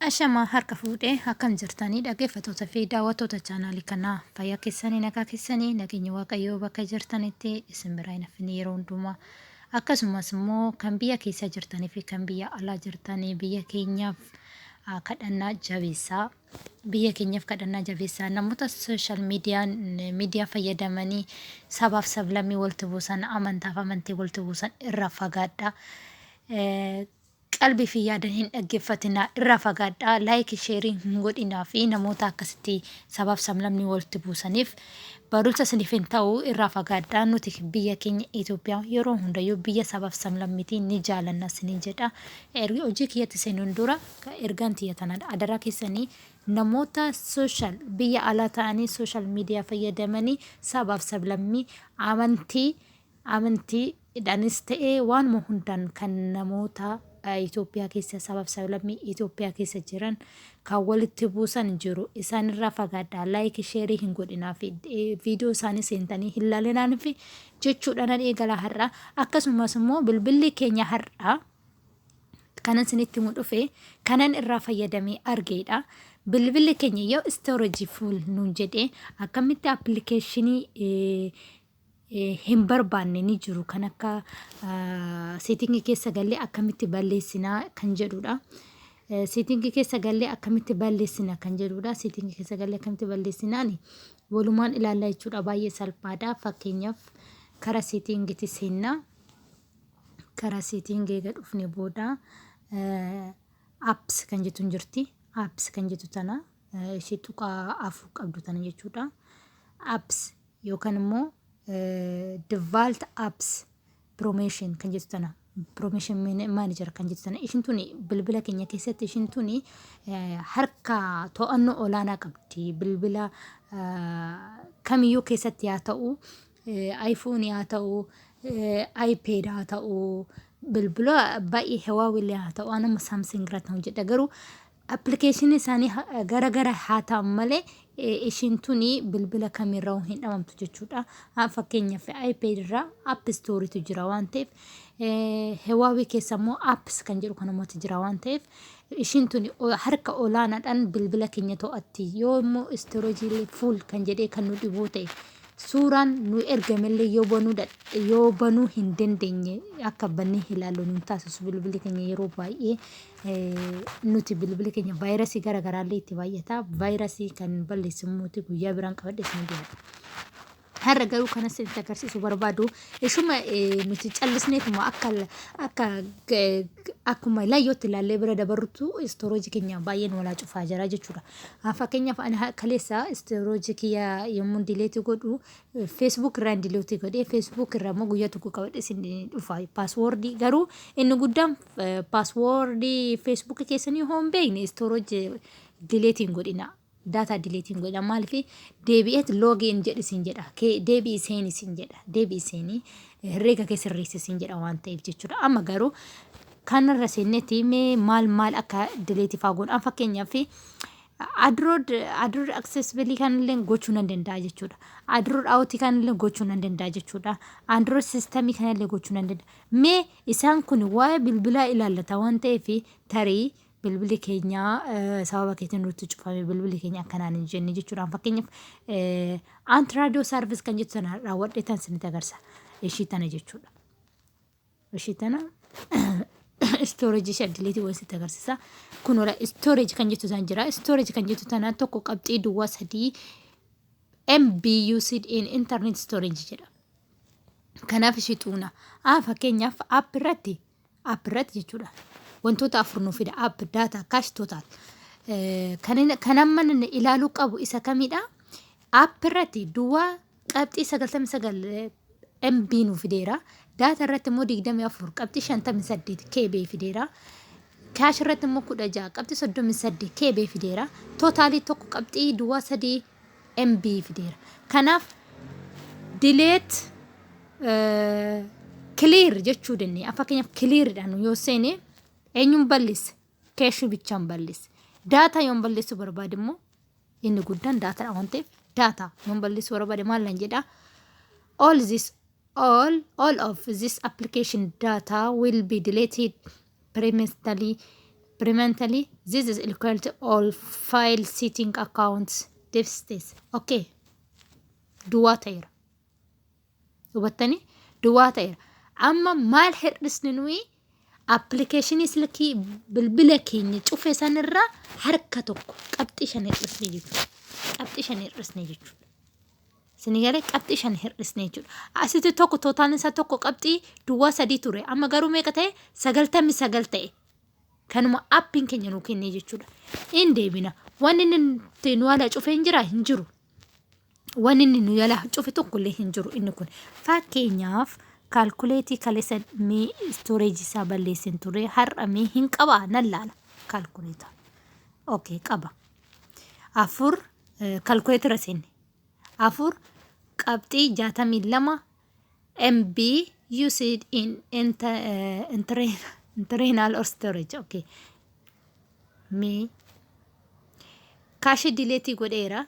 Ashamaa harka fuudhee akkam jirtanii dhaggeeffattoota fi daawwattoota chaanaalii kanaa fayyaa keessanii nagaa keessanii nageenya waaqayyoo bakka jirtanitti isin biraa hin hafne yeroo hundumaa akkasumas immoo kan biyya keessa jirtanii fi kan biyya alaa jirtanii biyya keenyaaf ah, kadhannaa jabeessaa biyya keenyaaf kadhannaa jabeessaa namoota sooshaal miidiyaan miidiyaa fayyadamanii sabaaf sablammii walitti buusan amantaaf amantii walitti buusan irraa fagaadhaa. Eh, Qalbii fi yaadan hin dhaggeffatinaa irraa fagaadhaa like share hin godhinaa fi namoota akkasitti sabaaf sablamni walitti buusaniif barumsa isiniif hin ta'u irraa fagaadhaa nuti biyya keenya Ethiopia yeroo hundayyuu biyya sabaaf sablammitii ni jaalanna isiniin jedha ergi hojii kiyyatti seenuun dura ergaan tiyya tanadha adaraa keessanii namoota social biyya alaa ta'anii social media fayyadamanii sabaaf sablammii amantii Amantii dhanis ta'e waanuma hundaan kan namoota Itoophiyaa keessa sabaaf sablammii Itoophiyaa keessa jiran kan walitti buusan jiru. Isaanirraa fagaadhaa. Laayikii sheerii hin godhinaa fi viidiyoo isaanii seentanii hin laalinaan fi jechuudhaan eegala har'a. Akkasumas immoo bilbilli keenya har'a kanan isinitti himu dhufe kanan irraa fayyadamee argeedha. Bilbilli keenya yoo istoorejii fuul nuun jedhee akkamitti appilikeeshinii hin barbaanne ni jiru kan akka seetingi keessa gallee akkamitti balleessinaa kan jedhudha. Seetingi keessa gallee akkamitti balleessina kan jedhudha. Seetingi keessa gallee akkamitti balleessinaani walumaan ilaalla jechuudha baay'ee salphaadha. Fakkeenyaaf karaa seetingitti seennaa karaa seetingii eega dhufne booda apps kan jettu hin jirti. Apps kan jettu tana ishee tuqaa afur qabdu tana jechuudha. Apps yookaan immoo devault apps promotion kan jettu tana promotion manager kan jettu tana ishin tuni bilbila keenya keessatti ishin tuni eh, harka to'annoo olaanaa qabdi bilbila eh, kamiyyuu keessatti haa ta'u eh, iPhone haa ta'u eh, iPad haa ta'u bilbila baay'ee Huawei haa ta'u anuma Samsung irratti hojjedha garuu Application isaanii gara gara haa ta'an malee ishiin tuni bilbila kamirra hin dhabamtu jechuudha. Fakkeenyaaf iPad irra App Store tu jira waan ta'eef Huawei keessa immoo Apps kan jedhu kan ummata jira waan ta'eef ishiin tuni harka olaanaadhaan bilbila keenya to'atti yoo immoo storage full kan jedhee kan nu dhibuu ta'e suuraan nu ergamellee yoo banuu dadha- yoo banuu hin dandeenye akka bannee ilaallu nu hin taasisu bilbilli keenya yeroo baay'ee nuti bilbili keenya vaayirasii gara garaallee itti baay'ata. Vaayirasii kan balleessu immoo guyyaa biraan qabadhee isin dhiyaadha. Har'a garuu kan isinitti agarsiisu barbaadu ishuma nuti callisneetuma akka akka akkuma laayyootti ilaallee bira dabarrutu istooroojii keenya baay'een walaa cufaa jira jechuudha. Fakkeenyaaf ani kaleessa istooroojii kiyya yommuu dileetii godhu feesbuuk irraan dileetii godhee feesbuuk irraa immoo guyyaa tokko qabadhee isin dhufa paaswoordii garuu inni guddaan Password Facebook keessanii hoo hin beekne storage delete hin godhina. Data delete hin godhina. Maaliif deebi'eet login jedhi sin jedha. Kee- Deebi'i seeni sin jedha. Deebi'i seeni herreega kee sirreessi sin jedha waan ta'eef jechuudha. Amma garuu kanarra seennetti mee maal maal akka delete faa godhan fakkeenyaaf adrood adrood accessibility kan illee gochuu nan danda'a jechuudha. Adrood out kan illee gochuu nan danda'a jechuudha. Android system kan illee gochuu nan danda'a. Mee Isaan kun waa'ee bilbilaa ilaallata waan ta'eef tarii bilbili keenya sababa keetiin nutti cufame bilbili keenya akkanaan hin jenne jechuudhaan fakkeenyaaf anti raadiyoo saarvis kan jettu sana raawwadhee tan isinitti agarsiisa ishii tana jechuudha. Ishii tana istoorejii ishee addileetii waan isinitti agarsiisa. Kun wala istoorejii kan jettu sana jira istoorejii kan jettu tana tokko qabxii duwwaa sadii MBUC in internet storage jedha. Kanaaf ishii xuuna. A fakkeenyaaf app irratti app irratti jechuudha. Wantoota afur nu fida app data cash total. Eh, Kan inni- kan amma inni ilaaluu qabu isa kamidha? App irratti duwwaa qabxii 99 MB nu fideera. Data irratti immoo 24 qabxii 58 KB fideera. Kaash irratti immoo 16 qabxii 38 KB fideera. Tootaalii tokko qabxii duwwaa 3 mb fideera kanaaf delete eh, clear jechuu dandeenya Amma fakkeenyaaf clear dhaan yoo seene eenyuun balleessa keeshuu bichaan balleessa daataa yoon balleessuu barbaade immoo inni guddaan daataadha waan ta'eef daataa yoon balleessuu barbaade maal nan jedhaa all this All, all of, this application data will be deleted permanently. Permanently, this is equal to all file setting accounts devices. Okay. Duwwaa ta'eera. Hubattanii? Duwwaa ta'eera. Amma maal hir'isni nuyi appilikeeshinii silkii bilbila keenya cufe sanirra harka tokko qabxii shan hir'isne jechuudha. Qabxii shan hir'isne jechuudha. Isin galee qabxii shan hir'isne jechuudha. Asitti tokko tootaalni isaa tokko qabxii duwwaa sadii ture. Amma garuu meeqa ta'e? Sagaltamni sagal ta'e. Kanuma appiin keenya nu kennee jechuudha. In deebina. Wanni inni nuti nu ala cufe hin jira hin jiru. Wanni inni nu ala cufe tokko illee hin jiru inni kun. Fakkeenyaaf kaalkuleetii kaleessa mee istooreejii isaa balleessin ture har'a mee hin qaba nan laala kaalkuleeta. Okay qaba. Afur kaalkuleetira seenne. 4, qabxii 62 MB used in internal or storage. Okay. Me. Kaashii dileetii godheera.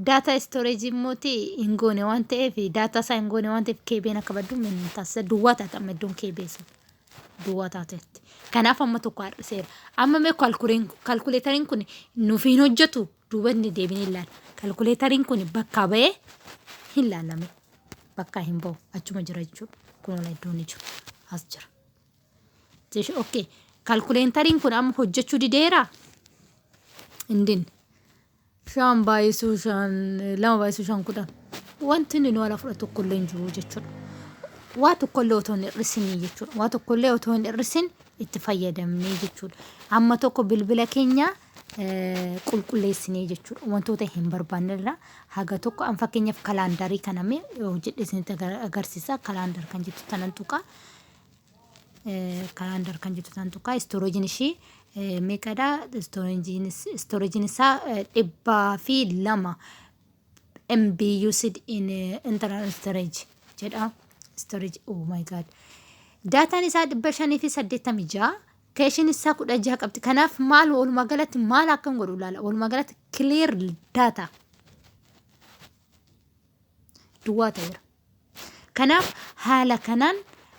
Daataa istooreejii immoo hin goone waan ta'eef daataa isaa hin goone waan ta'eef keebeen akka baddu taasisa. Duwwaa taata amma iddoon keebee sun. duwwaa taateetti. Kanaaf amma tokko har'iseera. Amma mee kalkuleen- kalkuleetariin kun nuuf hin hojjetu duubatti deebinee ilaalla. Kalkuleetariin kun bakkaa ba'ee hin laalame. Bakkaa hin ba'u. Achuma jira jechuudha. Kun ola iddoon ni jiru. As jira. Jeshi- Okay. Kalkuleetariin kun amma hojjechuu dideera? Hin dinne. Shan baay'isuu shan lama baay'isuu shan kudhan. Wanti inni nu ala fudhatu tokkollee hin jiru jechuudha. Waa tokkollee otoo hin hir'isinii jechuudha. Waa tokkollee otoo hin hir'isin itti fayyadamnee jechuudha. Amma tokko bilbila keenya eh, qulqulleessinee jechuudha. Wantoota hin barbaanne irraa haga tokko an fakkeenyaaf kalaandarii kana mee hojjedhe isinitti agar- agarsiisa. Kalaandar kan jettu tanan tuqaa. calendar kan jettu san tuqaa storage ishii meeqadha storage isaa dhibbaa fi lama MB used in internal storage jedha storage oh my god daataan isaa dhibba shanii fi saddeettami ja'a keeshin isaa kudha jaha qabdi kanaaf maal walumaa galatti maal akkan godhu ilaala walumaa galatti clear data duwwaa ta'eera Kanaaf haala kanaan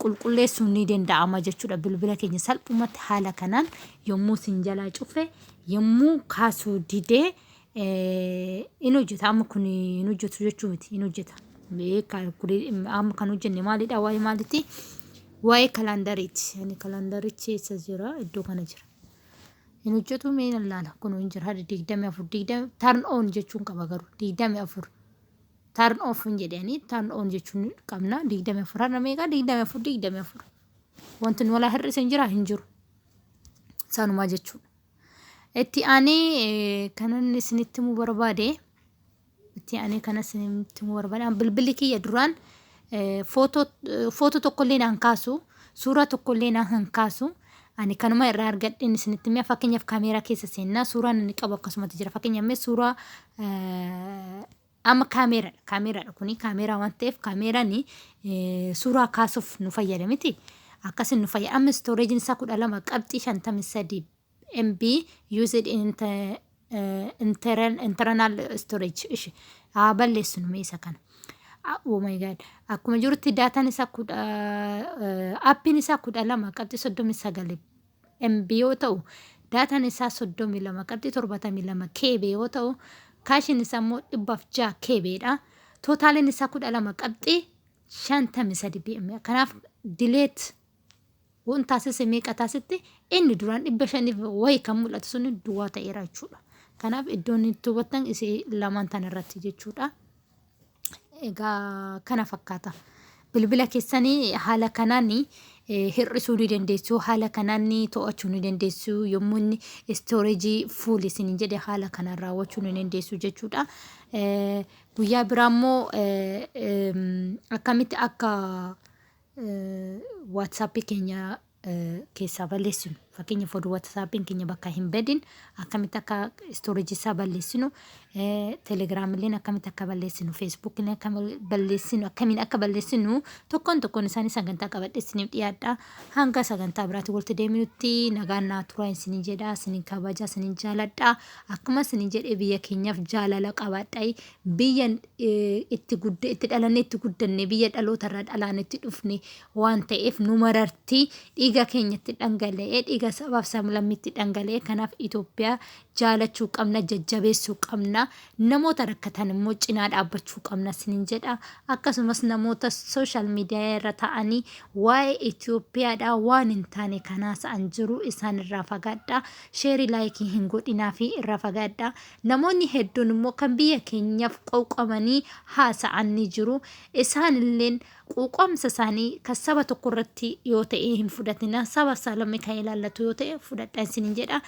qulqulleessuun ni danda'ama jechuudha. Bilbila keenya salphumatti haala kanaan yommuu sin jalaa cufe yommuu kaasuu didee in hojjeta amma kun hin hojjetu jechuu miti in hojjeta. Amma kan hojjenne maalidha waa'ee maalitti waa'ee kalaandariiti. Ani kalaandarichi eessa jira iddoo kana jira. Hin hojjetu mee ilaala kun hin jira digdamii afur digdamii tarn oon jechuun qaba garuu digdamii afur. Turn off hin jedhani turn on jechuun qabna 24 har'a meeqa 24 24 wanti nu walaa hir'ise hin jira hin jiru sanumaa jechuudha itti aanee kanan isinitti himuu barbaade itti aanee kanan isinitti himuu barbaade bilbilli kiyya duraan footoo tokkollee naan kaasu suuraa tokkollee naan kaasu ani kanuma irraa argadheen isinitti himee fakkeenyaaf kaameeraa keessa seennaa suuraan inni qabu akkasumatti jira fakkeenyaaf mee suuraa Amma kaameeradha. Kaameeradha kuni kaameeraa waan ta'eef kaameeraan suuraa kaasuuf nu fayyada miti. Akkasiin nu fayyada. Amma istooreejiin isaa kudha lama qabxii shantamii sadii MB used in inter- eh, intern- internal storage. Ishi. Haa balleessinu mee isa kana. Ah, Oh my god. Akkuma jirutti daataan isaa kudha eh, appiin isaa kudha lama qabxii soddomii sagal MB yoo ta'u, daataan isaa 32.72 KB yoo ta'u, kaashiin isaa immoo 106 KB dha. Tootaaliin isaa 12.53 PM. Kanaaf dileet waan taasise meeqa taasitti inni duraan 500 wayi kan mul'atu sun duwwaa ta'eera jechuudha. Kanaaf iddoon itti hubattan isii lamaan tan irratti jechuudha. Egaa kana fakkaata. Bilbila keessan haala kanaan hir'isuu ni dandeessu, haala kanaan to'achuu ni dandeessu, yommuu inni istooreejii fuul isin jedhe haala kanaan raawwachuu ni dandeessu jechuudha. Guyyaa biraa immoo akkamitti akka waatsaappii keenya keessaa balleessinu fakkeenya foduu watsaappin keenya bakka hin badin akkamitti akka storage isaa balleessinu telegiraamilleen akkamitti akka balleessinu feesbuukillee akka balleessinu akkamiin akka balleessinu tokkoon tokkoon isaanii sagantaa qabadhe isiniif dhiyaadha hanga sagantaa biraatti walitti deeminutti nagaan naa turaa isinin jedha isinin kabaja isinin jaaladha akkuma isinin jedhe biyya keenyaaf jaalala qabaadha biyya itti gudda itti dhalanne itti guddanne biyya dhaloota irraa dhalaan itti dhufne waan ta'eef nu mararti dhiiga keenyatti dhangala'ee dhiiga sabaaf sablammitti dhangala'ee kanaaf Itoophiyaa jaalachuu qabna jajjabeessuu qabna namoota rakkatan immoo cinaa dhaabbachuu qabna sinin jedha akkasumas namoota sooshaal miidiyaa irra ta'anii waa'ee Itoophiyaadhaa waan hin taane kanaas an jiru isaan irraa fagaadha sheerii laayikii hin godhinaa fi irraa fagaadha namoonni hedduun immoo kan biyya keenyaaf qowqamanii haasa'an ni jiru isaan illeen Quuqamsa isaanii kan saba tokko irratti yoo ta'e hin fudhatina saba saalame kan ilaallatu yoo ta'e fudhadha isinin jedha.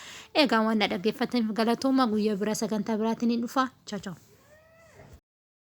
Egaa waan na dhaggeeffataniif galatooma guyyaa biraa sagantaa biraatiin hin dhufa. Chao chao.